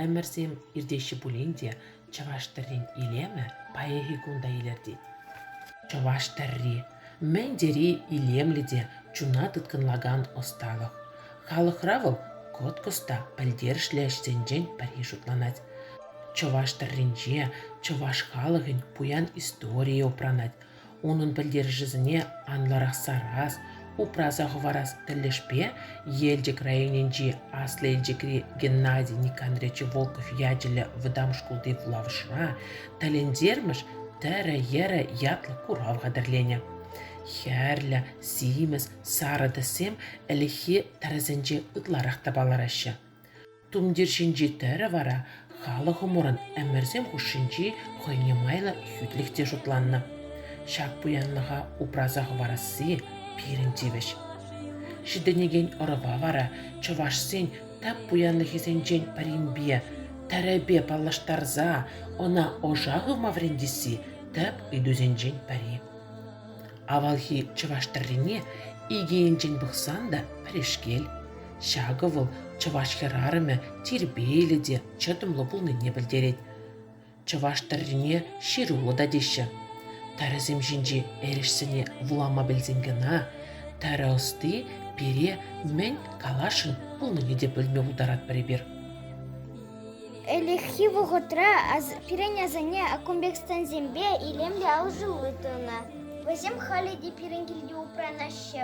Ӗмӗрсем иртеҫҫӗ пулин те чӑваш тӗррин илемӗ паянхи кун та илӗртет. Чӑваш тӗрри мӗн тери илемлӗ те чуна тыткӑнлакан ӑсталӑх. Халӑхра вӑл кӑткӑс та пӗлтерӗшлӗ ӗҫсенчен пӗри шутланать. Чӑваш тӗрринче чӑваш халӑхӗн пуян историйӗ упранать, унӑн пӗлтерӗшӗсене анлӑрах сарас, упраса хӑварас тӗлӗшпе Елчӗк районӗнчи Аслӑ Елчӗкри Геннадий Никандрович Волков ячӗллӗ вӑтам шкулти вулавӑшра «Тӗлӗнтермӗш тӗрӗ-йӗрӗ» ятлӑ курав хатӗрленӗ. Хӗрлӗ, симӗс, сарӑ тӗссем ӗлӗкхи тӗрӗсенче ытларах та палӑраҫҫӗ. Тумтир ҫинчи тӗрӗ вара халӑхӑмӑрӑн ӗмӗрсем хушшинчи хӑйне майлӑ хӳтлӗх те шутланнӑ. Ҫак пуянлӑха упраса хӑварасси пирӗн тивӗҫ. Ҫитӗнекен ӑрӑва вара чӑвашсен тап пуянлӑхӗсенчен пӗринпе, тӗрӗпе паллаштарса ӑна ӑша хывма вӗрентесси тӗп ыйтусенчен пӗри. Авалхи чӑваш тӗррине икӗ енчен пӑхсан та пӗрешкел. Ҫакӑ вӑл чӑваш хӗрарӑмӗ тирпейлӗ те чӑтӑмлӑ пулнине пӗлтерет. Чӑваш тӗррине ҫыруллӑ та теҫҫӗ. Тӗрӗсем ҫинчи эрешсене вулама пӗлсен кӑна тӗрӗ ӑсти пире мӗн каласшӑн пулнине те пӗлме пултаратпӑр эпир. Ӗлӗкхи вӑхӑтра пирӗн асанне аккумбекстансемпе илемлӗ алӑсулли тунӑ. Вӗсем халӗ те пирӗн килте упранаҫҫӗ.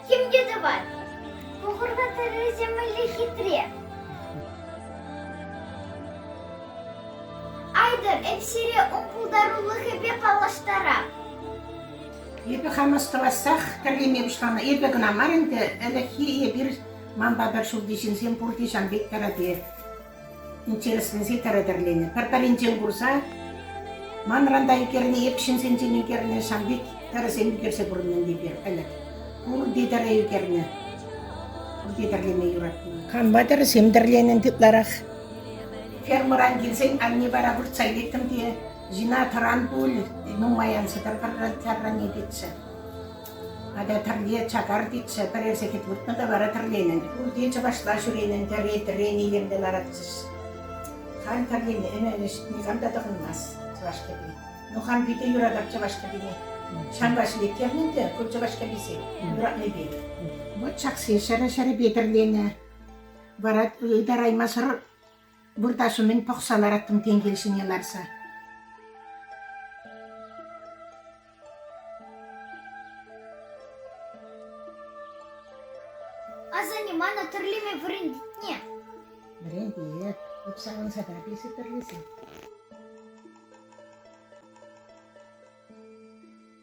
Темле тӑвать. Пухурта тыррисем мӗнле хитре. Айтӑр, эп сире ун пултарулӑхӗпе паллаштарам. Эпӗ хам ӑсталассах тӗрлеме пуҫланӑ. Эпӗ кӑна мар ӗнтӗ, ӗлӗкхи эпир, манпа пӗр ҫулти ҫынсем пурте ҫан пек тӗрӗпе. интересленсе тӗрӗ-тӗрленӗ. Пӗр-пӗринчен курса ман ранта ӳкернӗ, эп ҫынсенчен ӳкернӗ ҫав пек тӗрӗсем ӳкерсе пурӑннӑ ӗнтӗ ӗлӗк. Пурте тӗрӗ ӳкернӗ. Пурте тӗрлеме юратнӑ. Канма тӗрӗсем тӗрленӗ ытларах. Фермӑран килсен анне вара выртса илеттӗм те, жена тӑран пуль, нумай ан сӗтӗр, тӗррӗнетчӗ. Атя тӗрле чакар тетчӗ, пӗрер сехет выртнӑ та вара тӗрленӗн. Пурте чӑвашла ҫӳренӗн тӗрри, тӗррен илемлӗ ларатчӗҫ. Халь тӗрлемерӗмӗш, никам та тӑхӑнмасть чӑваш кӗпи. Ну хам питӗ юратап чӑваш кӗпине. Ҫавӑнпа ҫӗлеттернӗ ӗнтӗ ку чӑваш кӗписем юратнипе. Вот ҫаксем ҫӗрӗ-ҫӗрӗпе тӗрленӗ. Вара ытараймасӑр выртаҫҫӗ мӗн пӑхса лараттӑм тенкел ҫине ларса. Асанне мана тӗрлеме вӗрентне. Вӗрентет. Эп савӑнса та писӗ тӗрлесе.